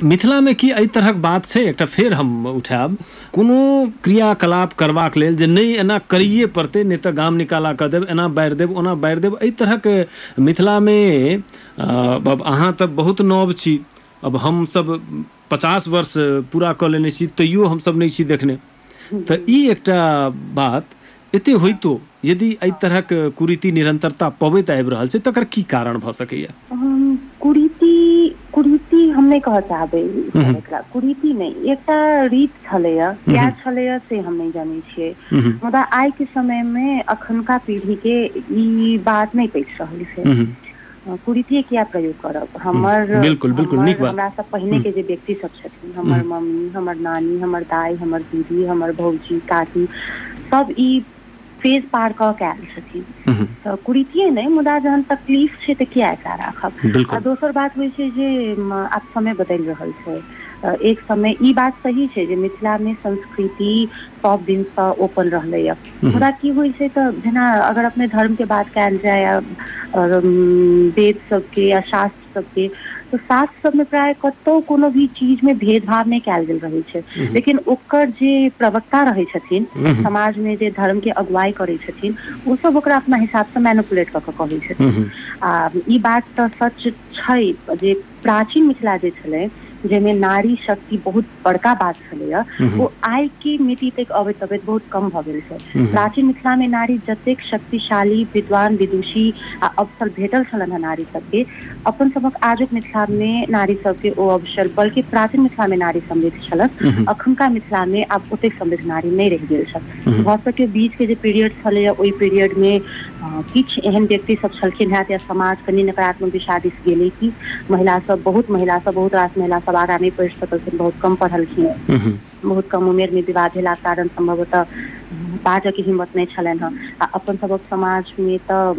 मिथिला में की एहि तरहक बात छै एकटा फेर हम उठायब कोनो क्रियाकलाप करबाक लेल जे नहि एना करिए पड़तै नहि तऽ गाम निकाला कऽ देब एना बाढ़ि देब ओना बाढ़ि देब एहि तरहक मिथिला में अहाँ तऽ बहुत नव छी अब हमसब पचास वर्ष पूरा कऽ लेने छी तैयो हमसब नहि छी देखने तँ ई एकटा बात एते होइतो यदि एहि तरहक कुरीति निरन्तरता पबैत आबि रहल छै तकर की कारण भऽ सकैए? कुरीति, कुरीति हम नहि कहऽ चाहबै सर एकरा। कुरीति नहि, ई एकटा रीत छलैए। किए छलैए से हम नहि जनै छियै। मुदा आइक समयमे अखनुका पीढ़ीकेँ ई बात नहि पचि रहल छै। कुरीतिये किया प्रयोग करब हूँ हमर बिल्कुल बिल्कुल नीक हमर बात हमरा सब पहिने हूँ के जे व्यक्ति सब छथिन हूँ हमर मम्मी हमर नानी हमर दाइ हमर दीदी हमर भौजी काकी सब ई फेज पार कऽ के आयल छथिन हूँ तऽ कुरीतिये नहि मुदा जहन तकलीफ छै तऽ किया एकरा राखब आ बिल्कुल दोसर बात होइ छै जे आब समय बदलि रहल छै एक समय ई बात सही छै जे मिथिला मे संस्कृति सब दिन ओपन रहलैया हूँ हूँ मुदा की होइ छै तऽ जेना अगर अपने धर्म के बात कयल जाय आ आओर वेद सबके या शास्त्र सबके तऽ शास्त्र सबमे प्राय कतौ कोनो भी चीज मे भेद भाव नहि कयल गेल रहै छै हूँ हूँ लेकिन ओकर जे प्रवक्ता रहै छथिन हूँ हूँ समाज मे जे धर्म के अगुवाई करै छथिन ओ सब ओकरा अपना हिसाब से मैनूप्लेट कऽ के कहै हूँ छथिन हूँ आ ई बात तऽ सच छै जे प्राचीन मिथिला जे छलै जाहिमे नारी शक्ति बहुत बड़का बात छलैए ओ आइ के मिति तक अबैत अबैत बहुत कम भऽ गेल छै प्राचीन मिथिला मे नारी जतेक शक्तिशाली विद्वान विदुषी आ अवसर भेटल छलनि हेँ नारी सबके अपन सभक आजुक मिथिला मे नारी सबके ओ अवसर बल्कि प्राचीन मिथिला मे नारी समृद्ध छलथि अखुनका मिथिला मे आब ओतेक समृद्ध नारी नहि रहि गेल छथि हूँ भऽ सके बीच के जे पीरियड छलैए ओहि पीरियड मे किछु एहन व्यक्ति सब छलखिन हेँ या समाज कनि नकारात्मक दिशा दिस गेलै कि महिला सब बहुत महिला सब बहुत रास महिला सब आगाँ नहि पढ़ि सकलखिन बहुत कम पढ़लखिन हूँ हूँ बहुत कम उमेर मे विवाह भेलाके कारण सम्भवतः बाजय के हिम्मत नहि छलनि हेँ आ अपन सभक समाज मे तऽ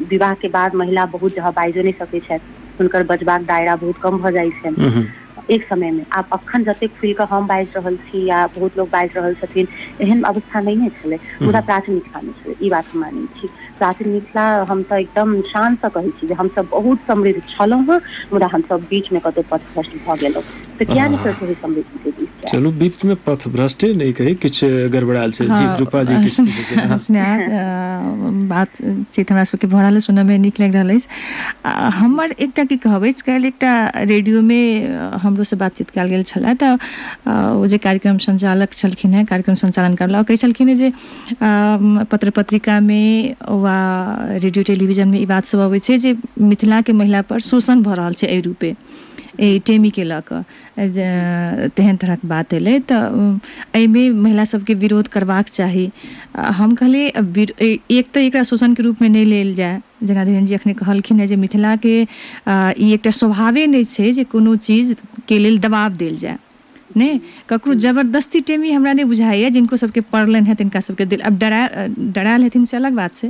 विवाह के बाद महिला बहुत जगह बाजियो नहि सकैत छथि हुनकर बजबाक दायरा बहुत कम भऽ जाइत छनि हूँ हूँ एक समय में आब अखन जतेक खुल कऽ हम बाजि रहल छी या बहुत लोग बाजि रहल छथिन एहन अवस्था नहि ने छलै मुदा प्राचीन मिथिला मे छलै ई बात हम मानै छी प्राचीन मिथिला हम तऽ एकदम शान से कहै छी जे हमसभ बहुत समृद्ध छलहुँ हेँ मुदा हमसभ बीच मे कतहु पथ भ्रष्ट भऽ गेलहुँ तऽ किया ने फेर सही समृद्धि के दिस जाय चलू बीच मे पथ भ्रष्टे नहि कही किछु गड़बड़ायल छै जी रूपा जी किछु पूछै छै हँ स्नेहा अ, बातचीत हमरा सबके भऽ रहल अछि सुनय मे नीक लागि रहल अछि आ हमर एकटा की कहब अछि काल्हि एकटा रेडियोमे अ, हमरोसँ बातचीत कयल गेल छलए तऽ अ, ओ जे कार्यक्रम संचालक छलखिन हेँ कार्यक्रम संचालन करला ओ कहै छलखिन हेँ जे अम, पत्र पत्रिकामे वा रेडियो टेलीविजनमे ई बात सब अबै छै जे मिथिलाके महिला पर शोषण भऽ रहल छै एहि रूपे एहि टेमीके लऽ कऽ जे तेहन तरहक बात एलै तऽ अम, एहिमे महिला सबके विरोध करबाक चाही आ हम कहलियै अ, विर- ए- एक तऽ एकरा शोषणके रूपमे नहि लेल जाय जेना धीरेन जी अखने कहलखिन हेँ जे मिथिलाके ई एकटा स्वभावे नहि छै जे कोनो चीजके लेल दबाव देल जाय नहि ककरो जबरदस्ती टेमी हमरा नहि बुझाइए जिनको सभके पड़लनि हेँ तिनका सभके दिल आब डरा डरायल हेथिन से अलग बात छै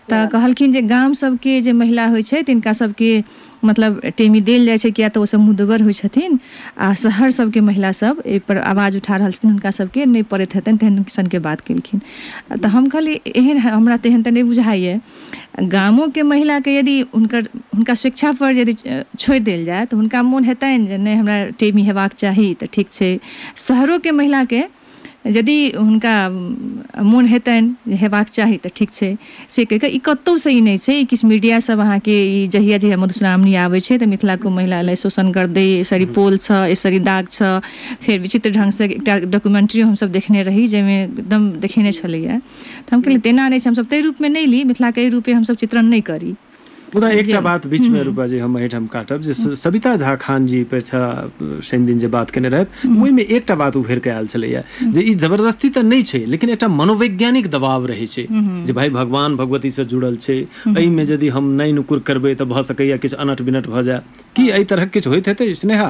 तऽ कहलखिन जे गाम सभके जे महिला होइ छै तिनका सभके मतलब टेमी देल जाइ छै किएक तऽ ओसभ मुदगर होइ छथिन आ शहर सभके महिला सभ एहिपर आवाज उठा रहल छथिन हुनका सभके नहि पड़ैत हेतनि तेहन सनके बात केलखिन तऽ हम कहलियै एहन हमरा तेहन तऽ नहि बुझाइए गामोके महिलाके यदि हुनकर हुनका स्वेच्छापर यदि छोड़ि देल जाय तऽ हुनका मोन हेतनि जे नहि हमरा टेमी हेबाक चाही तऽ ठीक छै शहरोके महिलाके यदि हुनका मोन हेतनि जे हेबाक चाही तऽ ठीक छै से कहि कऽ ई कतहुसँ ई नहि छै ई किछु मीडियासभ अहाँके ई जहिया जहिया मधुश्रावणी आबै छै तऽ मिथिलाके महिला लए शोषण कर दै सरी पोल छ ए सरी दाग छ फेर विचित्र ढङ्गसँ एकटा डॉक्यूमेंट्री हमसभ देखने रही जाहिमे एकदम देखेने छलैए तऽ हम कहलियै तेना नहि छै हमसभ ताहि रूपमे नहि ली मिथिलाके एहि रूपे हमसभ चित्रण नहि करी मुदा एकटा जे- बात बीचमे रूपा जी हम एहिठाम काटब जे स- सविता झा खान जी पर छा शनि दिन जे बात केने रहथि ओहिमे एकटा बात उभरि कऽ आयल छलैया जे ई जबरदस्ती तऽ नहि छै लेकिन एकटा मनोवैज्ञानिक दबाव रहै छै जे भाई भगवान भगवती से जुड़ल छै एहिमे यदि हम नहि नुकुर करबै तऽ भऽ सकैया किछु अनट बिनट भऽ जाय की एहि तरहक किछु होइत हेतै स्नेहा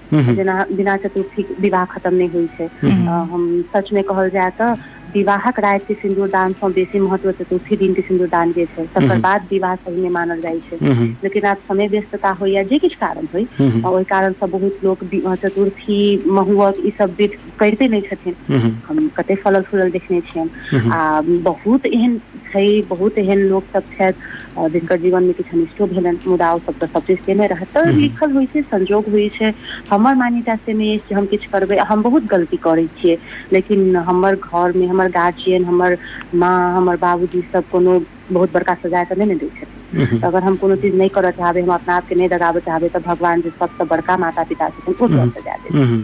हूँ हूँ जेना बिना चतुर्थी के विवाह खतम नहि होइ छै हूँ हूँ हम सच मे कहल जाय तऽ विवाहक राति के सिन्दूरदान सँ बेसी महत्व चतुर्थी दिन के सिन्दूरदान के छै हूँ तकर हूँ बाद विवाह पहिने मानल जाइ छै हूँ हूँ लेकिन आब समय व्यस्तता होइ या जे किछु कारण होइ हूँ हूँ ओहि कारण सँ बहुत लोक चतुर्थी महुहक ई सब विध करिते नहि छथिन हूँ हूँ हम कते फलल फूलल देखने छियनि हूँ हूँ आ बहुत एहन छै बहुत एहन लोक सब छथि आ जिनकर जीवन मे किछु अनिष्टो भेलनि मुदा ओ सब तऽ सब चीज केने रहथि तऽ लिखल होइ छै संजोग होइ छै हमर मान्यता से नहि अछि जे हम किछु करबै हम बहुत गलती करै छियै लेकिन हमर घर मे हमर गार्जियन हमर माँ हमर बाबूजी सब कोनो बहुत बड़का सजा तऽ नहि ने दै छथिन तऽ अगर हम कोनो चीज नहि करऽ चाहबै हम अपना आपके नहि दगाबऽ चाहबै तऽ भगवान जे सबसँ बड़का माता पिता छथिन ओ किया सजा देथिन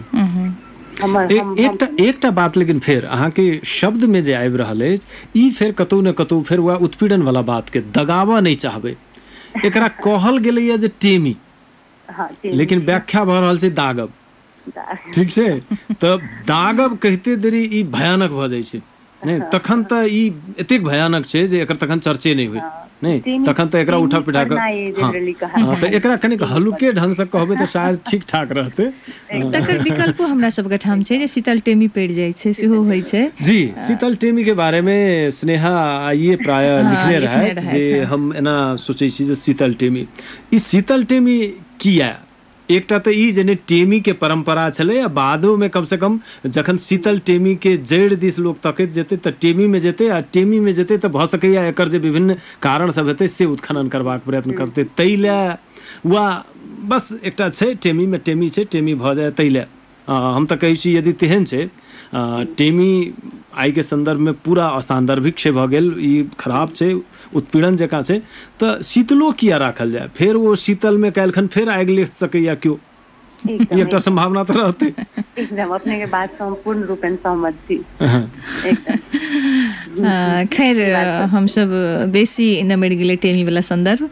हमर एक हम हम एकटा केना एकटा बात लेकिन फेर अहाँके शब्द मे जे आबि रहल अछि ई फेर कतौ ने कतौ फेर वैह उत्पीड़न वला बात के दगाबऽ नहि चाहबै एकरा कहल गेलैए जे टेमी हँ टेमी लेकिन व्याख्या भऽ रहल छै दागब ठीक छै तऽ दागब कहिते देरी ई भयानक भऽ जाइ छै नहि तखन तऽ ई एतेक भयानक छै जे एकर तखन चर्चा से नहि होय हँ नहि तीन तखन तऽ एकरा तीन उठा पीटा कऽ पढ़ना ये हँ जनरली कहा हँ तऽ एकरा कनिक तीन पढ़ हल्लुके ढंगसँ कहबै तऽ शायद ठीक ठाक रहतै तकर एकदम विकल्पो हमरा सबके ठाम छै जे एकदम शीतल टेमी पड़ि जाइ छै सेहो होइ शीतलटेमी छै पढ़ जी शीतल टेमी के बारे मे स्नेहा आइे प्राय हँ लिखने रहथि जे रहथि हँ हम एना सोचै छी जे शीतल टेमी ई शीतल टेमी किया एकटा तँ ई जे ने टेमीकेँ परम्परा छलै आ बादोमे कम सँ कम जखन शीतल टेमीकेँ जड़ि दिस लोक तकैत जेतै तँ टेमीमे जेतै आ टेमीमे जेतै तँ भऽ सकैए एकर जे विभिन्न कारण सभ हेतै से उत्खनन करबाक प्रयत्न करतै तैले वा बस एकटा छै टेमीमे टेमी छै टेमी भऽ जाए तैले हँ हम तऽ कहै छी यदि तेहन छै अ हूँ टेमी आइ के सन्दर्भ मे पूरा असान्दर्भिक छै भऽ गेल ई खराब छै उत्पीड़न जकाँ छै तऽ शीतलो किए राखल जाय फेर ओ शीतलमे काल्हिखन फेर आगि लेस सकैए केओ ई एकदम एकटा एकदम सम्भावना तऽ रहतै एकदम अपने के बात से हम पूर्ण रूपेण सहमत छी हँ एकदम हूँ हूँ खैर ई बात तऽ छै हमसभ बेसी नमैर गेलै टेमी वला सन्दर्भ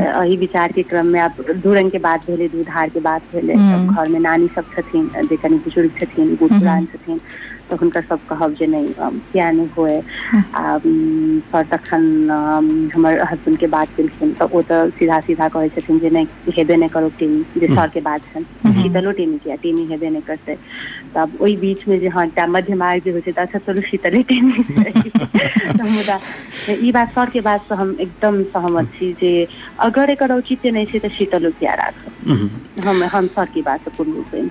एहि विचार के क्रम मे आब दू रंग के बात भेलै दू धार के बात भेलै तब घर मे नानी सब छथिन जे कनि बुजुर्ग छथिन बूढ़ पुरान छथिन तऽ हुनकर सब कहब जे नहि किया नहि हुए आ पर तखन हमर हसबैंड के बात केलखिन तऽ ओ तऽ सीधा सीधा कहै छथिन जे नहि हेबे नहि करो टीवी जे सर के बात छनि शीतलो टीवी किया टीवी हेबे नहि करतै तब ओहि बीच मे जे हँ एकटा मध्य मार्ग जे होइ छै तऽ अच्छा चलू शीतले टिवी तऽ मुदा ई बात सर के बात से हम एकदम सहमत छी जे अगर एकर औचित्य नहि छै तऽ शीतलो किया राखब हम हम सर के बात से पूर्ण रूपेन